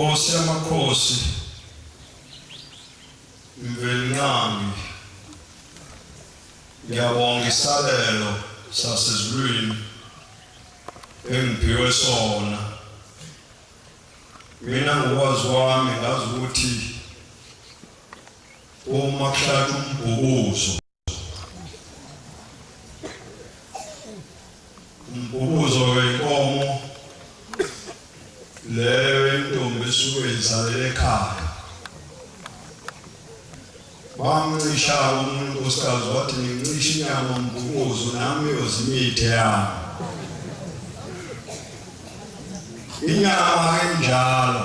Nkosi yamakhosi mvelinqami ngiyabonga isabelo sasezulwini engiphiwe sona mina ngokwazi kwami ngazi ukuthi Uma kushaya umbhukuzo umbhukuzo wenkomo leyo intombi esuke izalele ekhaya bamncisha umuntu unkosikazi wathi ngincisha inyama umbhukuzo nami uyozimithe yami inyama enjalo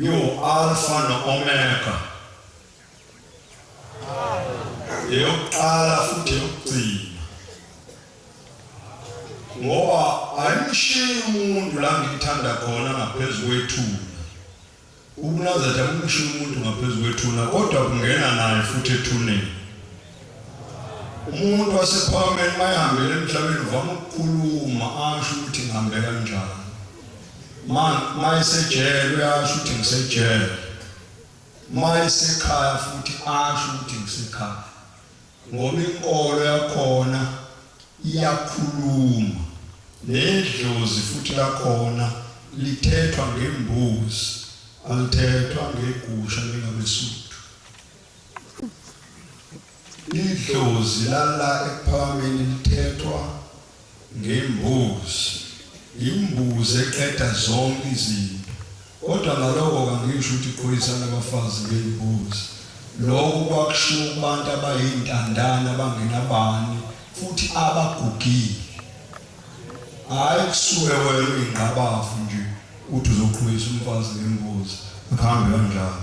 Alfa no-Omega, eyokuqala futhi eyokugcina, ngoba ayimshiyi umuntu la ngikuthanda khona ngaphezu kwethuna. UNazaretha akumshiyi umuntu ngaphezu kwethuna, kodwa kungena naye futhi ethuneni. Umuntu wasephakameni mayehambele emhlabeni uvama ukukhuluma asho ukuthi ngihambe kanjani. ma mayisejele uyasho ukuthi ngisejele mayisekhaya futhi asho ukuthi ngisekhaya ngoba inkolo yakhona iyakhuluma nedlozi futhi lakhona lithethwa ngembuzi alithethwa ngegusha lingabesuthu Idlozi lala ekuphakambeni lithethwa ngembuzi. Imbuzi eqeda zonke izinto. Kodwa ngaloko kangisho ukuthi iqhulisa nabafazi ngey'mbuzi. Loko kwakushiwo kubantu abayintandane abangenabani futhi abagugile. Hhayi kusuke wena uyingqabavu nje uthi uzoqhulisa umfazi ngembuzi, akuhambi kanjalo.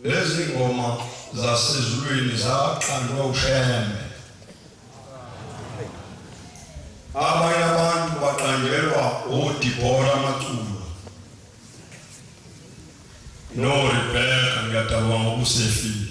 Lezi ngoma zasezulwini zaqanjwa uShembe. Abanye abantu baqanjelwa uDibora Maculo noRebecca ngiyadabanga ubusefile.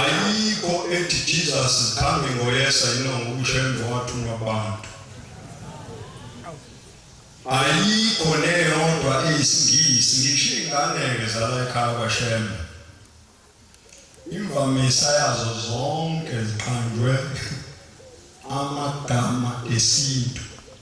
ayikho ethi Jesus is coming ngoyesa yino ngokusho emva wathunwa abantu ayikho neyodwa eyisingisi ngisho iy'ngane-ke zala ekhaya kwashembe imvamisa yazo zonke ziqanjwe amagama esintu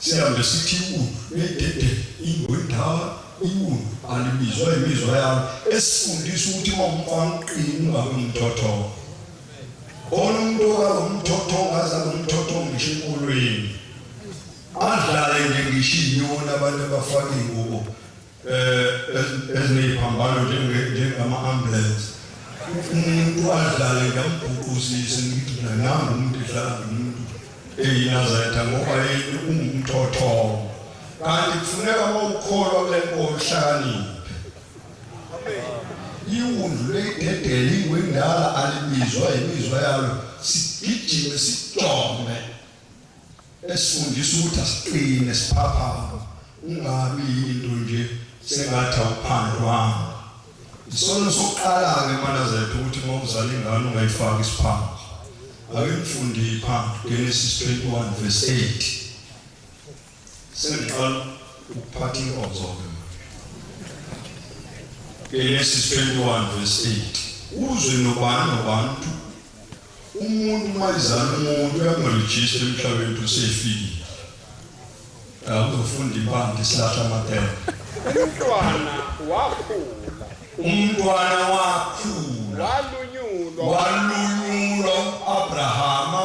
Sihambe sithi iwunu nedede ingoyindala iwunu alibizwa imizwa yalo esifundisa ukuthi uma umfana uqini ungabe umthothongo khona umuntu okalo mthothongo aza nomthothongo ngisho enkolweni adlale nje ngisho inyoni abantu abafake ingubo eh, ezineyiphambano njengama-ambulance umuntu adlale ngiyambhuquzise ngigcina nami umuntu edlala nomuntu eyinazayitha ngoba yini ungumthothongo kanti kufuneka uma ukholwa kule nkolo uhlakaniphe iwundlu leyidedele ingwendala alibizwa yimizwa yalo sigijime sijome esifundisa ukuthi asiqine siphaphama ungabi yinto nje sengathi awuphandwanga isona sokuqala-ke manazethu ukuthi uma uzala ingane ungayifaki isiphambo ake ngifundile phambi genesis 21 verse 8 Sengiqala ukuphatha inkonzo ke. Genesis 21 verse 8. Uzwe nobani nobantu umuntu uma izana umuntu uyamrejista emhlabeni ukuthi usefikile. Akuzofunda impande isilahla amatela. Umntwana wakhula. Umntwana wakhula. Walunyulwa. Walunyulwa uAbrahama.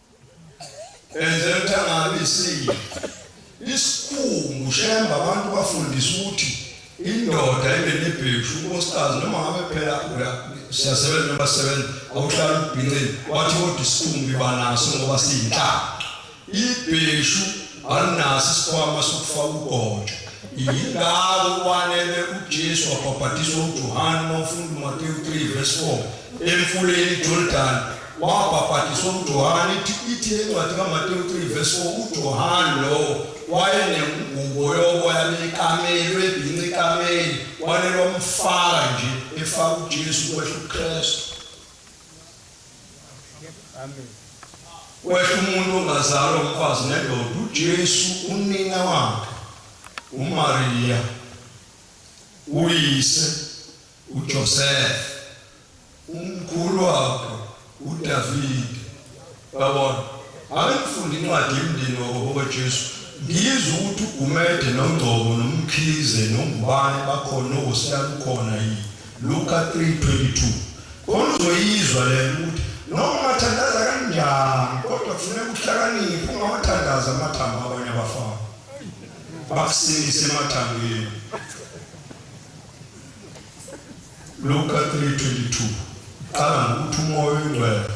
Enzela ukuthi angabi isilo. Isikhumbu shemba abantu bafundisa ukuthi indoda ibe nebheshu unkosikazi noma ngabe phela siyasebenza noma sisebenza awuhlala ubhincini wathi kodwa isikhumbu iba naso ngoba siyinhlanga. Ibheshu alinaso isikhwama sokufaka ugontsho. Yingakho kwanele uJesu wabhabhadiswa uJohane uma ufunda uMateyu 3 verse 4 emfuleni iJordani Wabhaphathizwa uJohane, ithi ithi le ncwadi kaMatewu 3 verse 4 uJohane lowo wayenengubo yoboya bekameli webhinca ikameli walelomfaka nje efaka uJesu kwehla uKristu kwehla umuntu ongazalwa umfazi nendoda uJesu unina wakhe uMariya uyise uJoseph, umkhulu wakho uDavid. Babona, abengifunde incwadi yemndeni wakoBaba Jesu, ngizwe ukuthi uGumede noNgcobo noMkhize noNgubane bakhona noWosiyana ukhona yini. Luka 3:22. Khona uzoyizwa lena ukuthi noma ungathandaza kanjani kodwa kufuneka uhlakaniphe ungawathandazi amathambo abanye abafana. Bakusindise emathambeni. Luka 3:22 qala ngokuthi umoya oyingcwele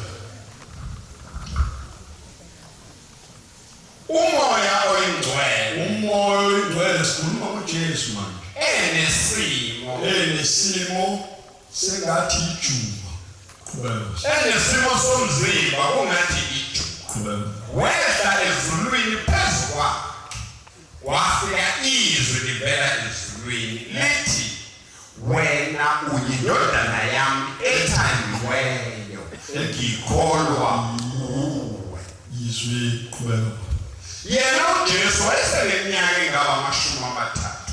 umoya oyingcwele umoya oyingcwele sikhuluma kuJesu manje enesimo enesimo sengathi ijuba qhubeka enesimo somzimba kungathi ijuba qhubeka wehla ezulwini phezu kwakhe Kwafika izwi livela ezulwini lithi, Wena uyindodana yami ethandiweyo, ngikholwa nguwe. Izwi qhubeka. Yena uJesu wayeseneminyaka engaba amashumi amathathu.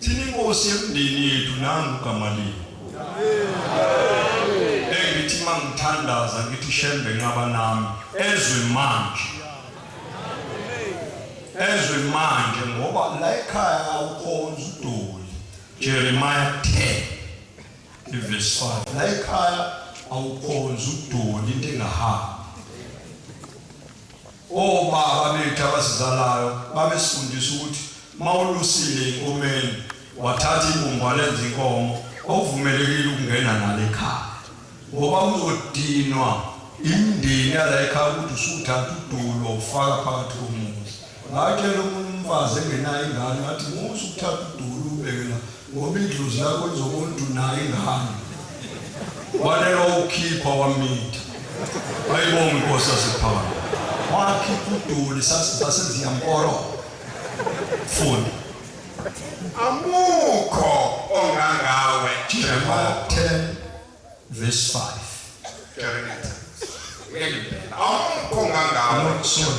Thina inkosi yemndeni yethu nangu uGamaliya. Engithi uma ngithandaza ngithi shembe nqaba nami ezwe manje. Ezwe manje ngoba la ekhaya awukhonzi udoli. Jeremiah 10 verse 5. La ekhaya awukhonzi udoli into engahambi. Obaba bethu abasizalayo babesifundisa ukuthi mawulusile inkomeni wathatha ibumba lenza inkomo awuvumelekile ukungena nalo ekhaya ngoba uzodinwa imindeni yala ekhaya ukuthi usuthatha udulo ufaka phakathi komuzi ngatshela omunye umfazi engenayo ingane ngathi musa ukuthatha udulo ubekela Ngoba idlozi lakho lizomuntu naye ngani. Walelo ukhipha wamitha. Ayibonga inkosi yasephana. Wakhipha udoli saseziyamkoro. Funda. Amukho ongangawe Jeremiah 10 verse 5. Jeremiah. Ngeke impela. Amukho ongangawe. Sorry.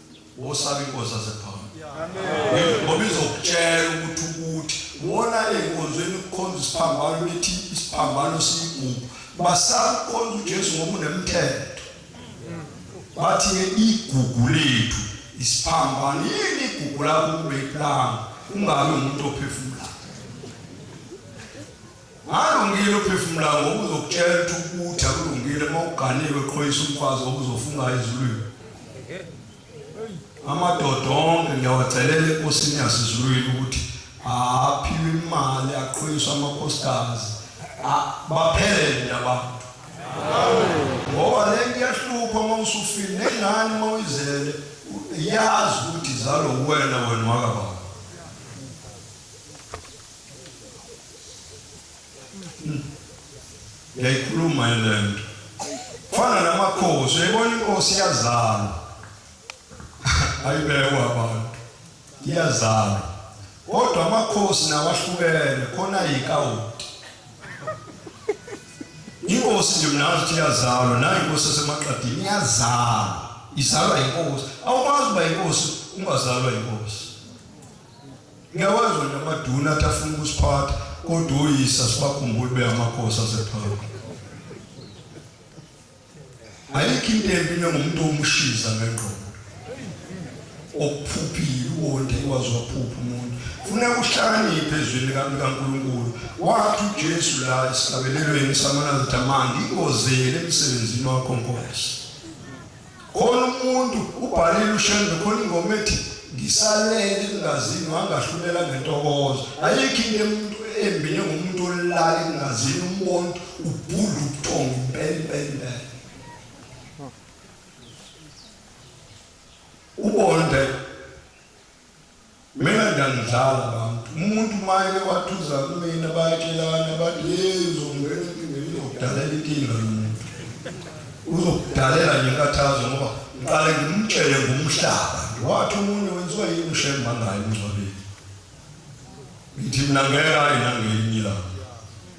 Wosaba inkosi yasephakama. Amen. Ngoba izokutshela ukuthi ukuthi wona enkonzweni ukukhonza isiphambano bethi isiphambano siyigugu. Basakhonza uJesu ngoba unemthetho. Bathi ke igugu lethu isiphambano yini igugu lakho kube iplanga ungabe umuntu ophefumula. Ngalungile uphefumula ngokuzokutshela ukuthi ukutha kulungile uma uganiwe qhoyisa umfazi okuzofunga ezulwini amadoda onke ngiyawacelela enkosini yasezulwini ukuthi aphiwe imali aqhoyiswe amakhosikazi baphele nina bantu ngoba le nto iyahlupha uma usufile nengane uma uyizele yazi ukuthi zalo wena wena wakababa ngiyayikhuluma le nto fana namakhosi uyayibona inkosi iyazalwa ayibekwa abantu iyazalwa kodwa amakhosi nawahlukene khona yikawuti inkosi nje mnazi ukuthi iyazalwa nayo inkosi esemaqadini iyazalwa izalwa yinkosi awukwazi uba yinkosi ungazalwa yinkosi Ngiyawazwa nje amaduna athi afuna ukusiphatha kodwa uyisa sibakhumbule beyamakhosi asephakade. Ayikho into embi nengomuntu omushiza ngengqondo. Okuphuphile uwonde ikwazi waphupha umuntu. Funeka uhlakaniphe ezwini likaNkulunkulu. Wathi uJesu la esihlabelelweni samanazithamanga ikozele emsebenzini wakho Nkosi. Khona umuntu ubhalile uShembe khona ingoma ethi ngisalele engazini wangahlulela ngentokozo. Ayikho into emuntu embi njengomuntu olala engazini umbona ubhulu ubuthongo impela impela impela. Ubonde Mina ngiyangidlala abantu umuntu maye wathuza kumina bayatshelana bathi hey uzongena enkingeni uzokudalela inkinga yomuntu uzokudalela nje inkathazo ngoba ngiqale ngimtshele ngomhlaba wathi umuntu wenziwa yini ushemba ngayo umngcwabeni ngithi mina ngeke ayi nangelinye ilanga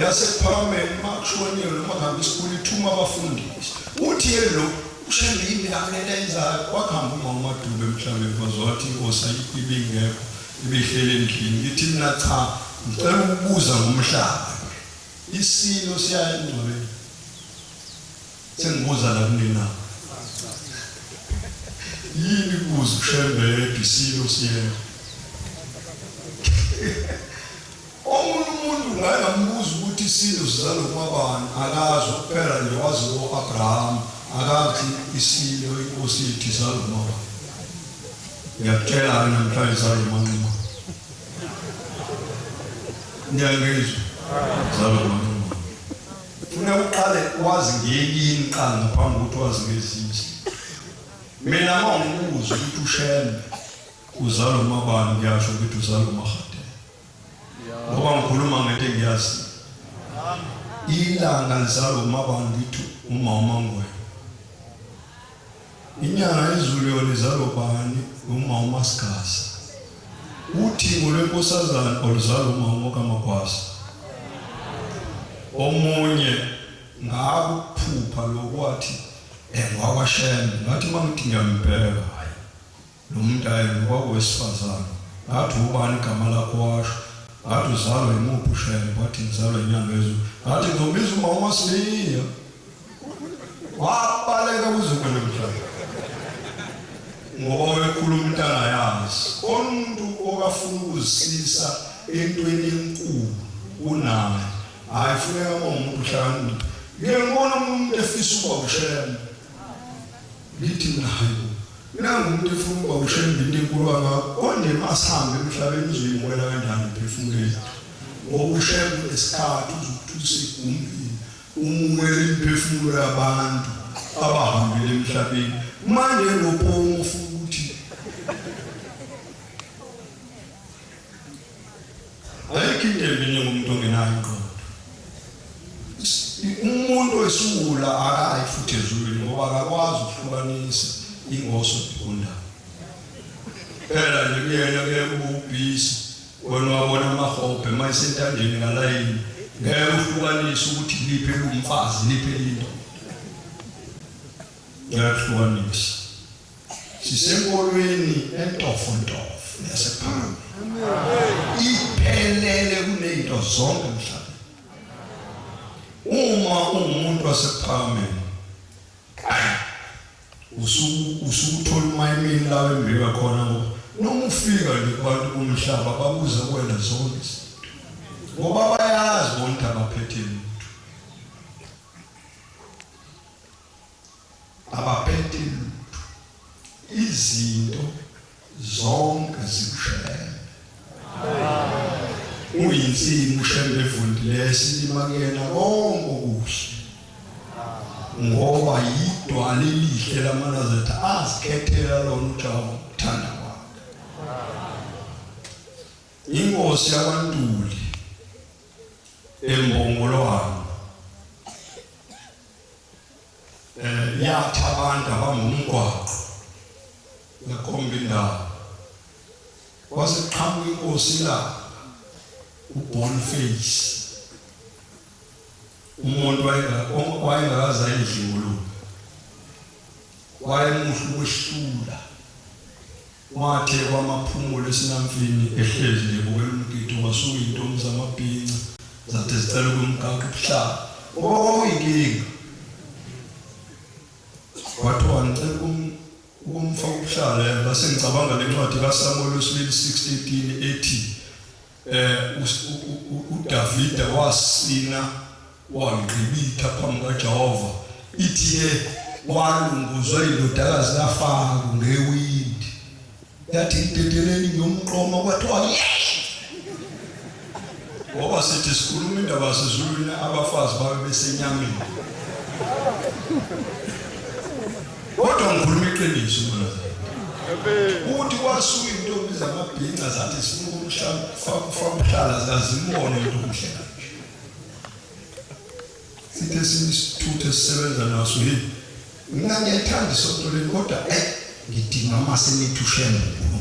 yasePharameli uMaxoniyo noMahambi School ithuma abafundisi. Uthi yena lo uShembe yini akulento ayenzayo wakuhamba uma uMaDube emhlabeni kwaze wathi inkosi ayikho ibingekho ibihleli endlini ngithi mina cha ngicela ukubuza ngomhlaba isilo siyaya engcwabeni sengibuza la kunina yini kuze uShembe yedwa isilo siyena Omunye umuntu ngake ngambuza ukuthi isintu sizalwa uMabani, akazi, kuphela nje wazi o-Abraham, akathi isintu, inkosi yethu izalwa uMabani. Ngiyakutshela-ke namhlanje izalwa uManquma. Niyangizwa? Izalwa uManquma. Funa uqale wazi ngeyini qala ngaphambi kokuthi wazi ngezinye. Mina uma ngibuza ukuthi uShembe uzalwa uMabani, ngiyasho ukuthi uzalwa uMahadi. ngoba ngikhuluma ngento engiyazi ilanga lizalwa umabani ngithi uma umangwenya inyanga yezulu yona izalwa bani uma umasigasa uthingo lwenkosazana oluzalwa uma umokamagwasa omunye ngakuphupha lokwathi engwakwashembe ngathi uma ngithi ngiyambheka Lomntayena kwakowesifazane ngathi ubani igama lakho washo ngathi uzalwa yimuphi ushembe wathi ngizalwa inyanga yezulu ngathi ngizombiza uma umasiniya wabaleka kuzukulu mhlawumbe ngoba wekhuluma into angayazi umuntu okafuna ukuzisisa entweni enkulu kunaye hayi funeka umuntu uhlakaniphe ngiyembona umuntu efisa ukuba ushema lithi nayo Nangu umuntu efuna ukuba ushembe into enkulu kangako konje masihambe emhlabeni uzoyibukela kanjani emphefumulweni ngoba ushembe unesikhathi uzokuthulisa igumbini umumele imiphefumulo yabantu abahambele emhlabeni manje lopomo ufuna ayikho into embi njengomuntu ongenayo ingqondo umuntu wesiwula akayi futhi ezulwini ngoba akakwazi ukuhlukanisa ingoso negundawo phela nje kuyena kuye kububhisi wena wabona amahobhe uma esentandeni ngalayini ngeke uhlukanise ukuthi liphi elumfazi liphi elindoda ngiyakuhlukanisa Sisenkolweni entofontofo yasephambi. Iphelele kunezinto zonke emhlabeni. Uma ungumuntu wasephambi usuku usukuthola umayimini lawo embeka khona ngoba noma ufika nje kubantu bomhlaba babuza kuwena zonke izinto ngoba bayazi bonke abaphethe abaphethe lutho izinto zonke zimshele uyinsimu shembe evundile esilima kuyena konke okuhle ngoba yidwala elihle lamanazetha azikhethela lona ujawu uthanda kwakhe inkosi yakwantuli embongolwane eh, yakha abantu abangumgwaqo yakhomba indawo kwase qhamuka inkosi la uBoniface umuntu wayengakaza endlini wayemuhle ukwehlula Wathe kwamaphumula esinamfini ehlezi nje ebukela umgidi wasuka izintombi zamabhinca zathi zicela ukumgaqa ubuhlala ngoba kwakuyinkinga. Kwathiwa ngicela ukumfaka ubuhlala base ngicabanga le ncwadi kaSamuweli wesibili 6:18 ethi Eh uDavide wasina wangqibitha phambi kaJehova ithe walunguzwa indodakazi kaFaro ngewindi yathi idedeleni ngiyomqoma kwathiwa ngoba sithi sikhuluma indaba sezulwini abafazi babe besenyameni Kodwa ngikhuluma iqiniso mfundazane. Uthi kwasuka intombi zamabhinca zathi sifuna ukumhlala kufa umhlala zazimone into omhle kanje. Sithe sinisithuthe sisebenza naso yini? Mina ngiyayithanda isonto leli kodwa eh ngidinga amase nithi ushembe uNkulunkulu.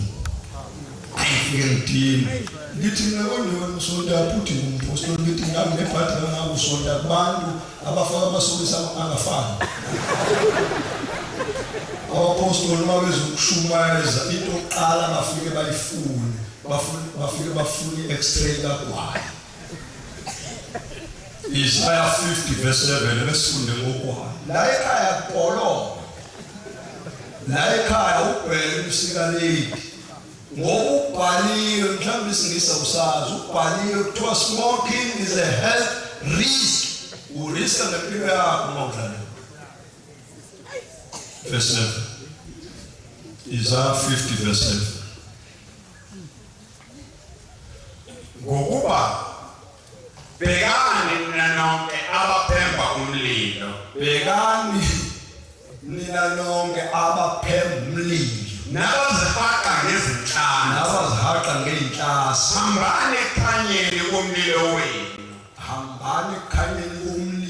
Ayifike ngidinga. Ngithi mina konjani usonta futhi ngumphostoli ngithi ngami nebhadi ngangabusonta kubantu Abafana amasokisi angafani. Abapostoli uma bezokushumayeza into yokuqala bafike bayifune, bafune bafike bafune i-x-ray kagwayi. Isaya 50 verse 7 besifunde ngokwayo. La ekhaya kubholonga. La ekhaya ubheke umsikaleki. Ngoba ukubhaliwe mhlawumbe isingisa usazi ukubhaliwe kuthiwa smoking is a health risk. Uriska ngempilo yakho uma udlala. Verse 7. Isaiah 50 verse 7. Ngokuba Bhekani nina nonke abaphemba umlilo. Bhekani nina nonke abaphemba umlilo. Nabazihaqa ngezinhlanga. Nabazihaqa ngey'nhlasa. Hambani ekukhanyeni komlilo wenu. Hambani ekukhanyeni komlilo.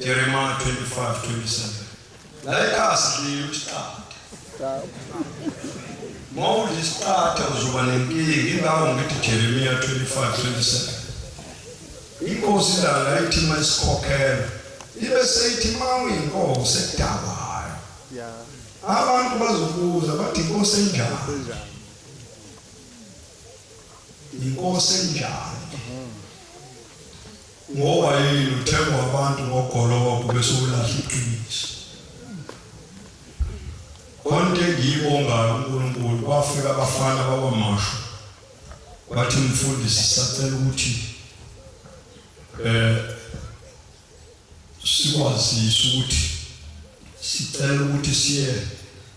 Jeremiah 25:27. Laika sidlile isiqatha. Mawudla isiqatha uzoba nenkinga ingakho ngithi Jeremiah 25:27. Inkosi lala ithi mayisikhokhela ibe seyithi mawuyinkosi edawayo. Abantu bazobuza bathi inkosi enjani? Inkosi enjani? Ngoba yini uthengwa abantu ngogologo bese ulahla iqiniso? Konke engiyibongayo uNkulunkulu kwafika abafana bakwamashu bathi mfundisi sacela ukuthi eh sikwazise ukuthi sicela ukuthi siye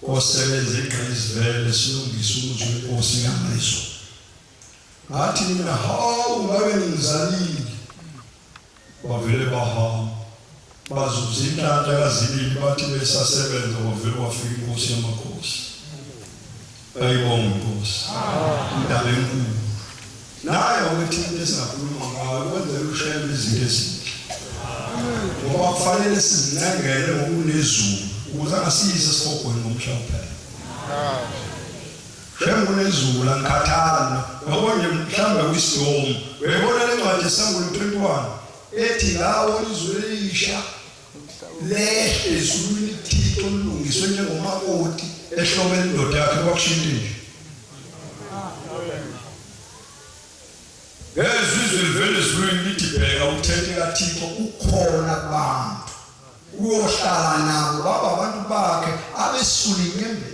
osebenza egqayizivele silungise umuzwe wenkosi ngamazwi Ngathi mina hawu ngabe ngimzalile. Bavele bahamba. Bazuza inhlanhla kazibili bathi besasebenza kwavele kwafika inkosi yamakhosi. Ayibonge inkosi. Indaba enkulu. Naye wakuthi into esingakhuluma ngayo kwenzela ushayela izinto ezinhle. Ngoba kufanele sizincengele ngokunezulu ukuze angasiyise esihogweni ngomhla kuphela. Shem kunezulu angikhathali mina. Yabo nje mhlawumbe kuyisidomu. Uyayibona le ncwadi yesAmbulo 21 ethi lawo izulu elisha lehle ezulwini kuThixo olulungiswe njengomakoti ehlobene indoda yakhe kwakushintshe nje. Ngezwe izwe livele ezulwini lithi bheka umthethe kaThixo ukhona kubantu. Uyohlala nabo baba abantu bakhe abesula inyembezi.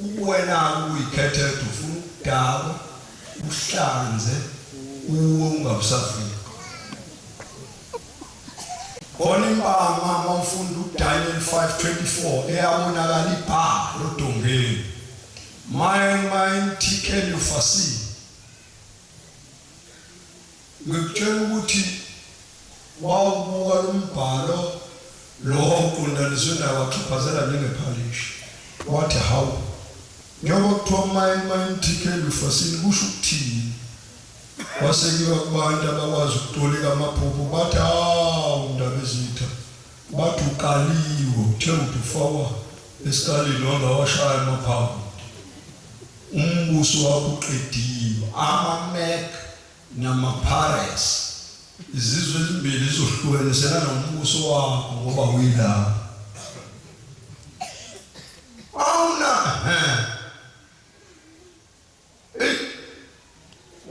Ukuwena-ke ukuyikhethetha ufuna ukudakwa, uhlanze, uwe ungabe usafika. Khona impama uma ufunda uDaniel 5:24 eyabonakala ibhala odongeni. Maye maye imthikele ufasile. Ngikutshela ukuthi wawubuka lo mbhalo lo wawuqondaniswe nawo waxhaphazela njengephalishi wathi hawu njengoba kuthiwa mayini mayini TK Lufasini kusho ukuthini wasekiwa kubantu abakwazi ukutolika amaphupho bathi hawu ndaba ezitha bathi uqaliwe uthe uthi ufawa esikalini wangawashaya amaphaphu Umbuso wakho uqediwe. AmaMac namaPirates izizwe ezimbili ezizohlukaniselana ngombuso wakho ngoba uyilapho. Awuna he. Ey.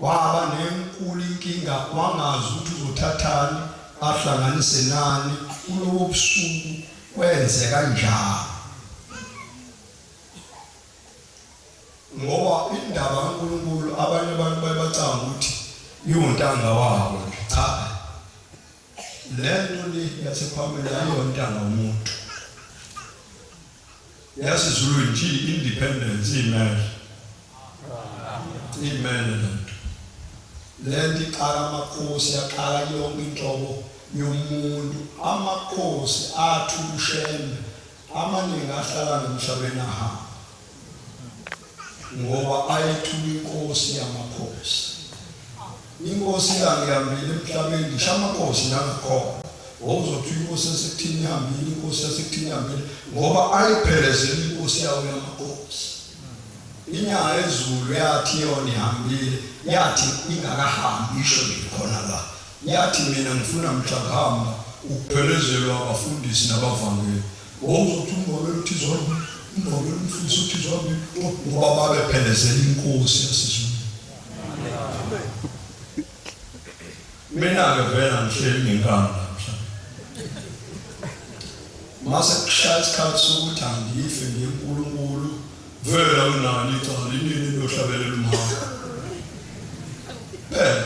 Waba nenkulu inkinga wangazi ukuthi uzothathani ahlanganise nani kulobo busuku kwenze kanjani. Ngoba indaba kaNkulunkulu abanye abantu bayibacanga ukuthi iwuntanga wabo nje. Cha. Le nto le yasePamela ayiwontanga womuntu. YaseZulu nje independence imele. Imele le nto. Le nto iqala amakhosi yaqala yonke inhlobo yomuntu. Amakhosi athi uShembe Amaningi ahlala emhlabeni ahamba ngoba ayethula inkosi yamakhosi. Inkosi yangihambile emhlabeni ngisho amakhosi nangakhona wawuzothi inkosi yasekuthini ihambile inkosi yasekuthini ihambile ngoba ayiphelezela inkosi yawo yamakhosi. Inyanga yezulu yathi yona ihambile yathi ingakahambi isho nje khona la. Yathi, Mina ngifuna mhlakahamba ukuphelezelwa abafundisi nabavangeli. Wawuzothi umvangeli uthi zombili, umvangeli umfundisi uthi zombili, ngoba babephelezela inkosi yasezulwini. Mina-ke vele angihleli ngenkani mase kushaya isikhathi sokuthi angife ngiye kuNkulunkulu vele awunalo icala inini niyohlabelela umhamba phela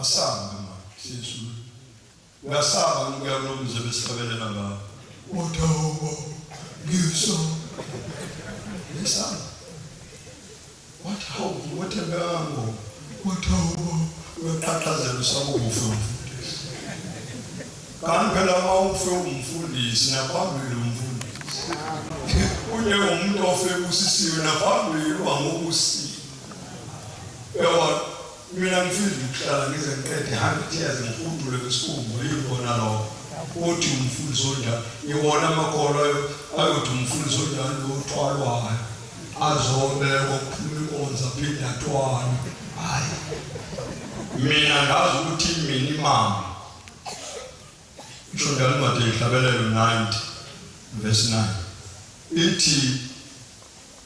Asaba mama, siyethula. Uyasaba ukuya kulomzi ebesihlabelela ngawo. Udobo, ngiso. Uyasaba. What how? What a gango. Udobo, uyaqhaqhazela usaba ukufa umfundisi. Kanti phela uma ufe umfundisi naphambili umfundisi. Unye umuntu ofe kusisiwe naphambili uba ngokusisiwe. Uyabona, mina ngifuna ukuhlala ngize ngiqede 100 years ngifundule kwisikhumbu yikona lokho. Uthi umfundisi onjani? Iwona amakolo ayo ayothi umfundisi onjani lo uthwalwayo azobekwa kuphuma inkonzo aphinde athwale. Hhayi, mina ngazi ukuthi iminimama isho njalo incwadi yenhlabelelo 90 verse 9 ithi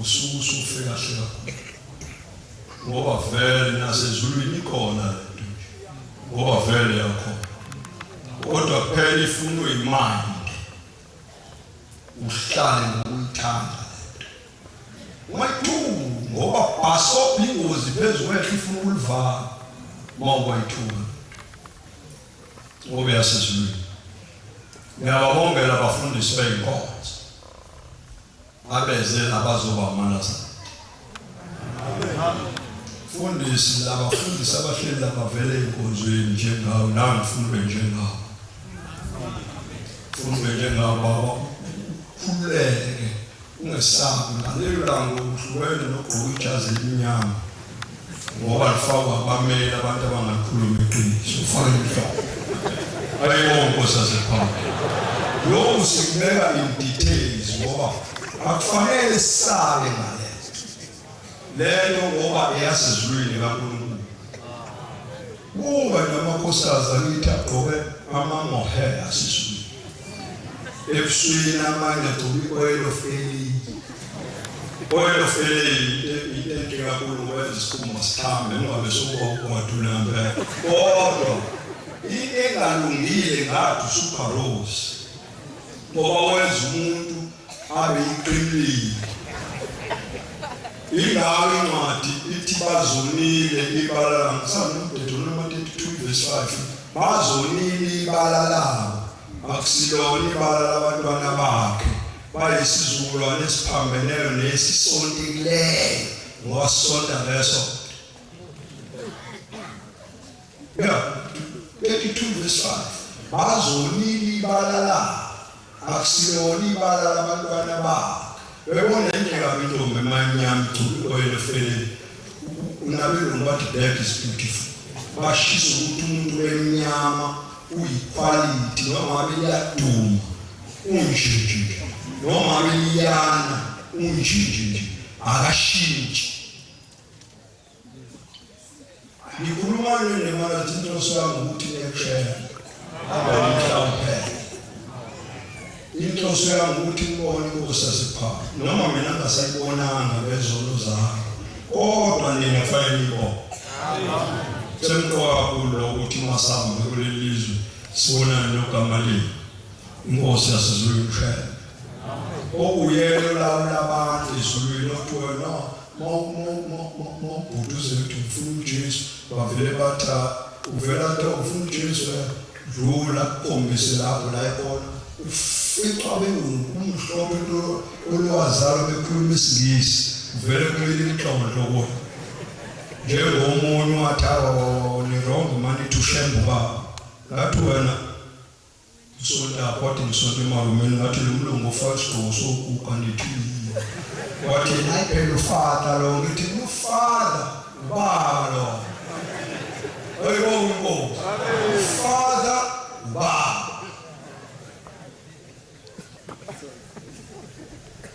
Usuke usufe kahle kakhulu ngoba vele nasezulwini ikhona lento nje ngoba vele yakho kodwa phela ifunwa imali uhlale ngokuyithanda wayithu ngoba bhaso ingozi phezu kwethu ifuna ukulivala uma ukwayithuka ngoba yasezulwini ngiyababongela abafundisi beyinkonzo Abeze abazoba amalazana. Fundisi labafundisi abahleli labavele enkonzweni njengawo nawe ngifuna ube njengawo. Ngifuna ube njengawo baba. Khululeke ungesabi ngalelo langa uhlukene nogqoka ijazi elimnyama. ngoba lifakwa abamele abantu abangakhuluma iqiniso ufake inhloko ayibo nkosi asephambili lokhu sikubeka in details ngoba akufanele sisale ngale lento ngoba eyasezulwini kaNkulunkulu Kuba namakhosikazi akithi agqoke amamohela asiswini ebusweni amanye agcobe i-oil of alien oil of alien into enhle kakhulu ukwenza isikhumba sihambe ungabe sokuwadula ngempela kodwa into engalungile ngathi usuperose ngoba wenza umuntu abe yiqinile ingawo incwadi ithi bazonile ibala labo sanumdedo noma 32 verse 5 bazonile ibala labo akusilona ibala labantwana bakhe bayisizukulwane esiphambeneyo nesisontikileyo ngosonta leso ya 32 verse 5 bazonini balala akusiyona ibala labantwana babo bebona indlela intombi emanyama igculu oyena feleni unabelungu bathi black is beautiful bashisa ukuthi umuntu wemnyama uyikhwalithi noma beyaduma unjinji noma beyana unjinji akashintshi Ngikhuluma nini mara tito swangu ukuthi ngiyekushela. Abamhlawumbe. Into swangu ukuthi ngibone kusa sipha. Noma mina ngasayibonanga bezolo zami. Kodwa nina kufanele nibone. Semqoka kulo ukuthi masambe kulelizwe sibonane noGamaliyeli. Inkosi yasezulwini mshele okuyena olawula abantu ezulwini okuthiwa no mawubhuduze ukuthi ngifuna ujesu bavele bathi ah, uvela kuthiwa ufuna ujesu eh, dlula kombise lapho la ikhona uficwa bengukumhlophe olwazalwa bekhuluma isingisi uvele kumele inhlobonhloboni njengomunye wathi awa nirongo mani thushembe ubaba ngathi wena Ngisonta kodwa ngisonta emarumeni ngathi lo mlungu ufaka isigqoko sokuguga nethini. Wathi hayi phela ufada lo ngithi ufada ubaba lo. Ayibo inkosi. Ufada ubaba.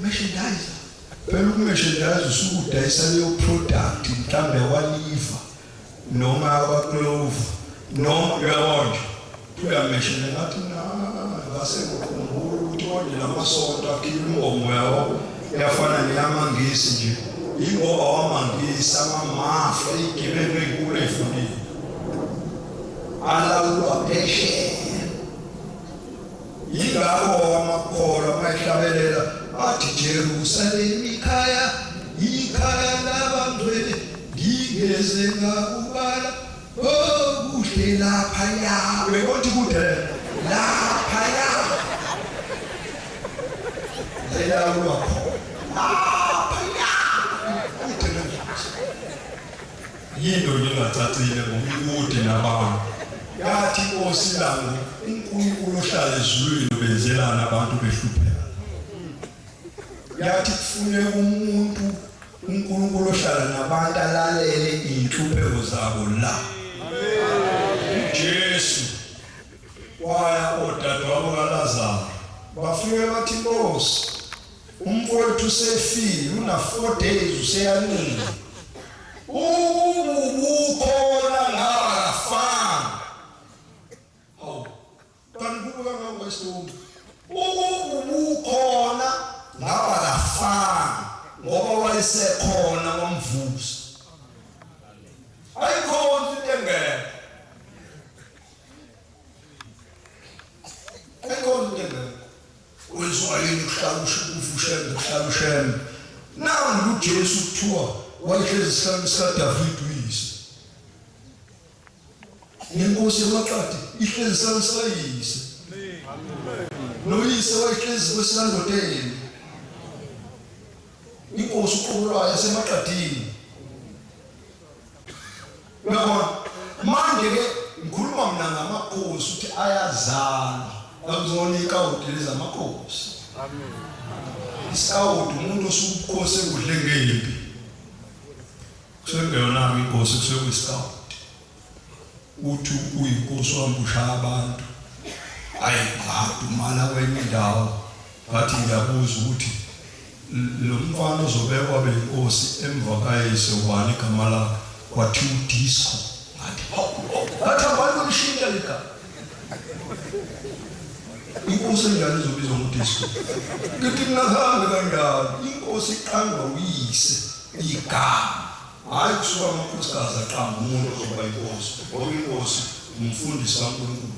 Merchandiser. Phela ukumeshandayiza usuke udayisa leyo product mhlambe waliva noma abaklova noma uyabonje uyameshela ngathi ngase ngikhumbula ukuthi konje lamasonto akhipha inkomo yawo yafana neyamangisi nje ingoba wamangisi amamafa igebelo enkulu efundile alawulwa phesheya Yingakho amakholwa uma ehlabelela athi Jerusalema ikhaya ikhaya labangcwele ngingeze ngakubala okuhle oh, laphaya bekothi kude laphaya lelawulwa khona Yinto nje engacacile ngoba ikude nabantu. Yathi inkosi langu uNkulunkulu ohlala ezulwini ubenzelana abantu behlupheka. Yathi kufuneka umuntu uNkulunkulu ohlala nabantu alalele inhlupheko zabo la. Jesu waya odadewabo kaLazaro bafike bathi Nkosi Umfowethu usefile una 4 days useyancile. Ubukhona ngaba fan. Oh. Kanti kubuka ngawo isithombe. Ubukhona ngaba la fan ngoba wayesekhona wamvusa. Ayikhona into engeke. Ayikhona into engeke. Kwenziwa yini ukuhlala ushukufu ushembe ukuhlala ushembe? Nangu uJesu kuthiwa wayehlezi esihlanu sikaDavide uyise. Nenkosi yamaqadi ihlezi esihlanu sikayise. Noyise wayehlezi kwesikandodeni. Inkosi uqobo lwayo yasemaqadini. Uyabona? Manje ke ngikhuluma mina ngamakhosi ukuthi ayazalwa. Ngakuzona ikawuti lezi amakhosi. Amen. Isawuti umuntu osubukhosi ekudle ngempi. Sekuyona inkosi kusekuyisawuti. Uthi uyinkosi wambusha abantu. Ayi ngadu mala kwenye indawo. Ngathi ngiyabuza ukuthi Lo mfana ozobekwa abe yinkosi emva kayise ubani igama lakhe? Kwathiwa uDisco. Ngathi, Hawu lokho! Ngathi, Abani bolishintsha leli gama? Inkosi enjani ezobizwa ngoDisco? Ngithi, Ngingahambi kanjalo. Inkosi iqangwa uyise, igama. Hhayi kusuka amakhosikazi aqamba umuntu ozoba yinkosi, ngoba inkosi ngumfundisi kaNkulunkulu.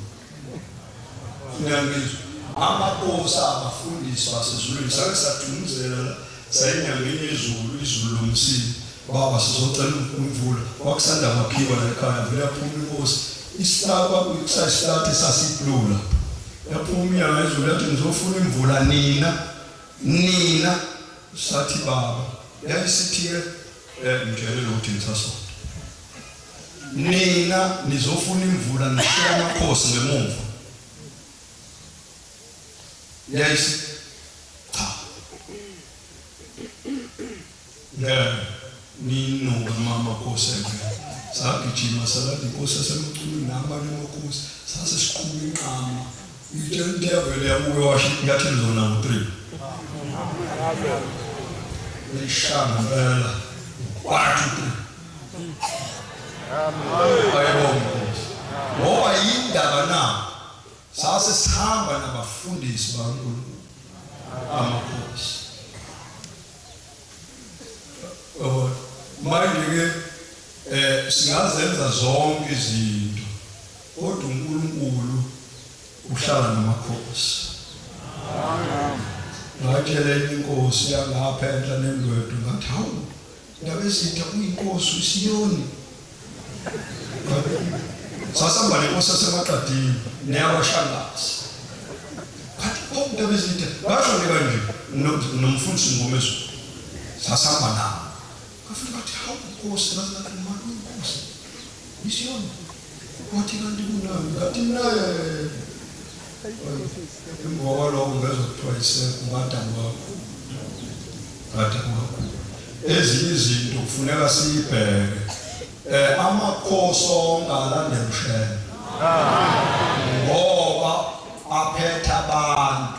Ngiyangizwa. Amaposa abafundisi basezulwini sake sadumuzela la sayinyangeni yezulu izulu lomsile baba sizocela imvula kwakusanda kwakhiwa la ekhaya vele yaphuma inkosi isihlaba kwakuyixa isihlati sasiplula yaphuma umyanga izulu yathi ngizofuna imvula nina nina sathi baba yayisithi-ke Eh ngitshele ukuthi ngisasonto. Nina nizofuna imvula nishaya amakhosi ngemumva. Yes. Cha. Ngeke ninoba mama khosi ngeke. Sagijima salala inkosi yasemculu nabanye amakhosi sase siqhuma inqama. Intevele yamuke washo inyathelo zona ngo-three lishanga impela kwathi three ayebongozi ngoba yindaba na sase sihamba nabafundisi bakankulunkulu amakhosi manje-ke um singazenza zonke izinto Kodwa uNkulunkulu uhlala namakhosi. Ngatshela enye inkosi yangapha enhla nendwedo ngathi hawu ndabezitha uyinkosi uSiyoni. Sasihamba nenkosi yaseMaqadini neyakwaShangase. Ngathi oh ndabezitha basho nje kanje nomfundisi Ngomeso. Sasihamba nabo. Ngafika ngathi hawu inkosi ngathi uMalu inkosi. ISiyoni. Wathi kanti kunani? Ngathi mina emva kwaloko ngezwa kuthiwa yisekho umadam wakho ngathi kwakho ezinye izinto kufuneka siyibheke eh amakhosi onke alande mshele ngoba aphetha abantu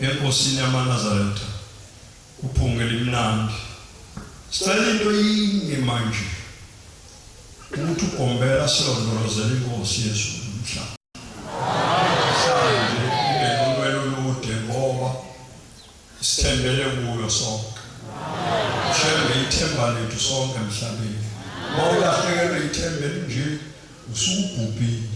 enkosini yamanazaretha uphunga elimnandi sicela into yinye manje ukuthi ugombela silondolozela inkosi yezulu umhlaba mhlawumbe inenqwelo olude ngoba sithembele kuyo sonke shembe ithemba lethu sonke emhlabeni uma ulahlekelwe ithemba elinje usubhubhile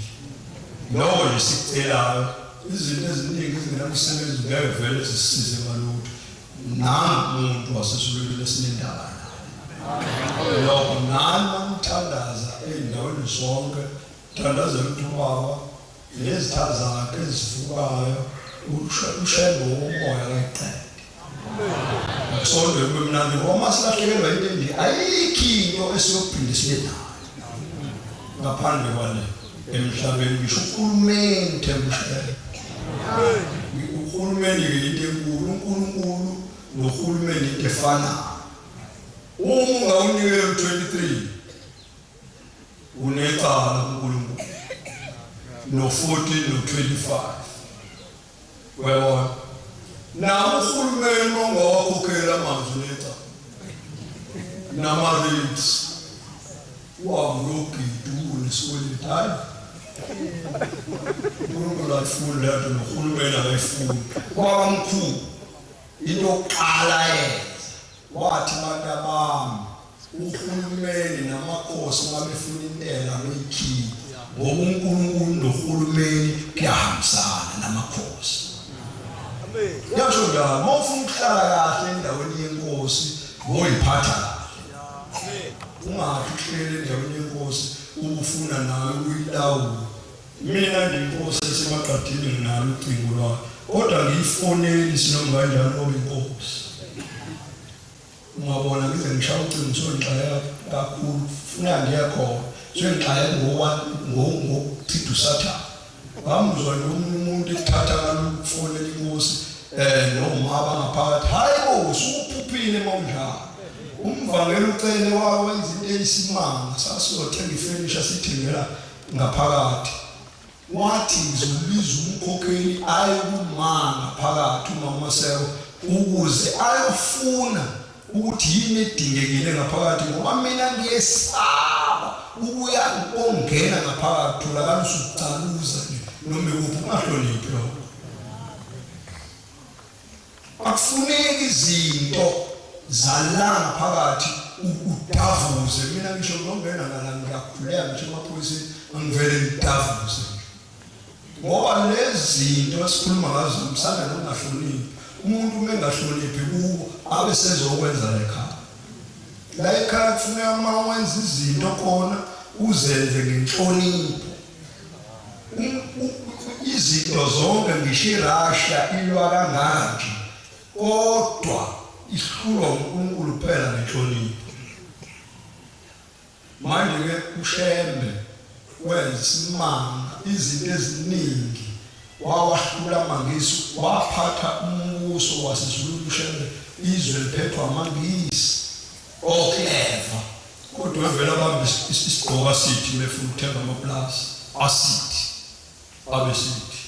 lowo lesicelayo izinto eziningi ezingenamsebenzi ngeke vele zisisize ngalutho nangu umuntu wasesulwini esinendaba naye lokho nani mamthandaza ey'ndaweni zonke thandazela ukuthi ubaba Nezithazana ke ezivukayo ushembe womoya kayiqede. Sonde kube mnandi ngoba uma silahlekelwa into embi ayikho into esiyophinde sibe nayo ngaphandle kwale emhlabeni ngisho uhulumeni thembushele uhulumeni ke into enkulu unkulunkulu nohulumeni into efanayo uma ungawunikela u-23 Unecala uNkulunkulu no 14 no 25 webona nawo uhulumeni ongawakhokhela amanzi unecala nama-rates wawuyogidula nesikweleti hayi unkulunkulu ayifuni leyo nto nohulumeni akayifuni kwaba mkhulu into yokuqala yenza wathi abantu abami Uhulumeni namakhosi uma befuna intela beyikhiphe ngoba uNkulunkulu nohulumeni kuyahambisana namakhosi. Yasho njalo uma ufuna ukuhlala kahle endaweni yenkosi ngoyiphatha kahle. Ungathi uhlele endaweni yenkosi ubufuna nawe ukuyilawula. Mina ngiyinkosi esemaqadini nginalo ucingo lwakhe kodwa ngiyifoneli sinoma kanjani ngoba inkosi. Ungabona ngize ngishaya ucingo ngithiwe ngixakeka kakhulu funa ngiya khona so ngixakeke ngokuchitha usathane ngamuzwa nje omunye umuntu ekuthatha ngalokufonela inkosi um noma abangaphakathi hhayi bo sukuphuphile uma unjalo umvangela ucele wawenza into eyisimanga sasiyothenga ifenisha sithengela ngaphakathi Wathi ngizombiza umkhokheli aye kumanga phakathi umama Seko ukuze ayofuna ukuthi yini edingekile ngaphakathi ngoba mina ngiyesaba ukuya ongena ngaphakathi tholakala usucaluza nje noma ikuphi ungahloniphi lokho Akufuneki izinto zalanga phakathi udavuze mina ngisho ngongena ngala ngiyakhuleka ngisho emaphoyiseni angivele ngidavuze ngoba lezi zinto esikhuluma ngazo msana nokungahloniphi umuntu uma engahloniphi kuwo abe sezokwenza lekhaya la ekhaya kufuneka uma wenza izinto khona uzenze ngenhlonipho izinto zonke ngisho irussia ilwa kanganje kodwa isihlulwa unkulunkulu kuphela nenhlonipho manje-ke ushembe wenza isimanga izinto eziningi wawahlula amangisi waphatha umbuso wasezululu ushembe izwe liphethwa amangisi Oh clever. Kodwa evela bambe isigqoka sithi befuna ukuthenga amaplaza asithi abesithi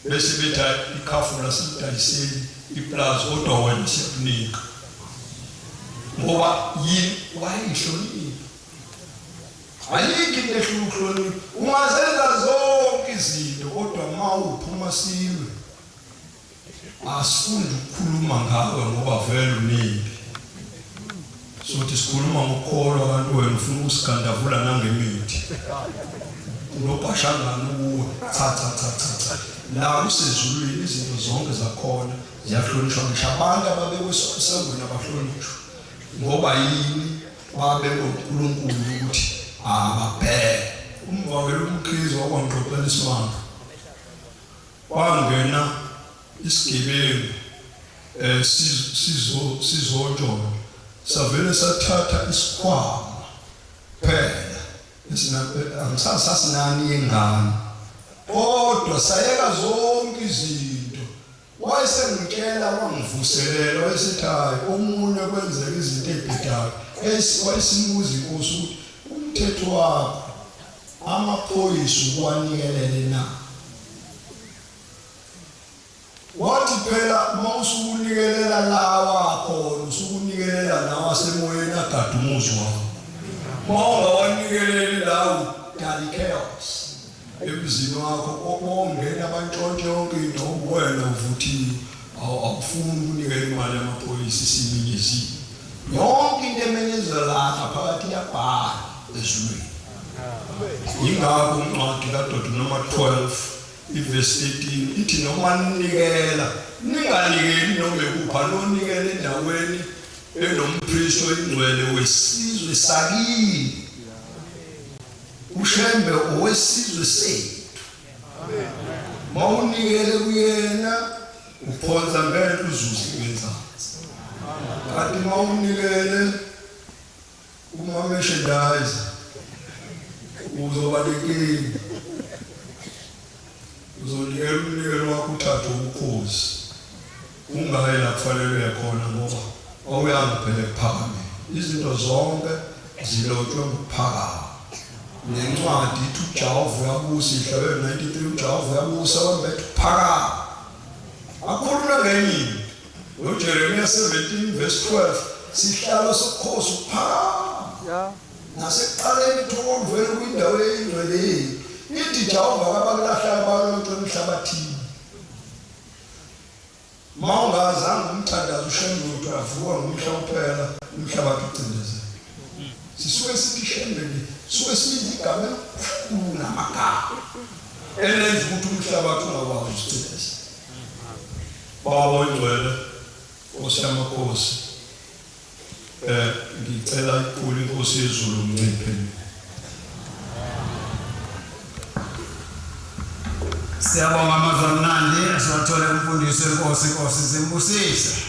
bese betha ikhafu lasidayiseli iplaza kodwa wena siyakunika ngoba yini wayihlonipha ayikho into ehlula ukuhlonipha ungazenza zonke izinto kodwa uma uphuma silwe Asifuni ukukhuluma ngawe ngoba vele uningi. Sothi sikhuluma ngokukholwa abantu wena ufuna ukusigandavula nangemithi. Unobhashangana ukuwe. Cha cha cha cha cha. La usezulwini izinto zonke zakhona ziyahlonishwa ngisho abantu ababekwesengweni abahlonishwa. Ngoba yini babe uNkulunkulu ukuthi ababheke. Umvakela umkhizo wakwangqoqela isimanga. Kwangena isigebengu eh sizo sizotshona savele sathatha isikhwama phela esisasinani yengane kodwa sayeka zonke izinto wayesengitshela wangivuselela wayesethi hayi omunye kwenzeka izinto ebhedayo wayesimuza inkosi ukuthi umthetho wakho amaphoyisa ukuwanikelele na? Wathi phela uma usukunikelela lawa khona usukunikelela nawo asemoyeni agade umuzi wakho uma ungawanikeleli lawo dali chaos emzini wakho obongena bantshontshe yonke into uwena uvuthiwe Awu akufuni ukunikela imali yamaphoyisa isiminyeziwe. Yonke into emenyezelwa lapha phakathi iyabhala ezulwini. Yingakho uncwadi kaDodo noma 12 ivesi 18 ithi noma ninikela ninganikeli noma ekupha nonikele endaweni enomphristo ingcwele wesizwe sakini ushembe owesizwe sethu mawunikele kuyena uphonsa ngeke uzuze ngenzansi kanti mawunikele uma merchandise uzoba nenkingi uzonikela umnikelo wakho uthathe ubukhosi Kungake lakufanelwe khona ngoba kwakuyanga phela ekuphakame. Izinto zonke zilotshwe ngokuphakama. Nencwadi ithi uJehova uyabusa ihlelo 93 uJehova uyabusa abantu bethu phakama. Akhuluma ngenye into. NoJeremiya 17 verse 12 sihlalo sokhosi ukuphakama. Yeah. Nasekuqaleni ithokolo vele kwindawo eyingcwele yethu. Ithi Jehova kabakulahla abantu emhlabathini. Mawungazanga umthandazo uShembe avuka ngomhla kuphela umhlabathi ucindezela. Sisuke sithi Shembe nje suke sibiza igama elikhulu namagama elenza ukuthi umhlabathi ungakwazi ucindezela. Baba oyingcwele Nkosi yamakhosi Eh ngicela iqulu inkosi yezulu mnciphe. Siyabonga amazwi amnandi asiwathole kumfundisi wenkosi inkosi zimbusise.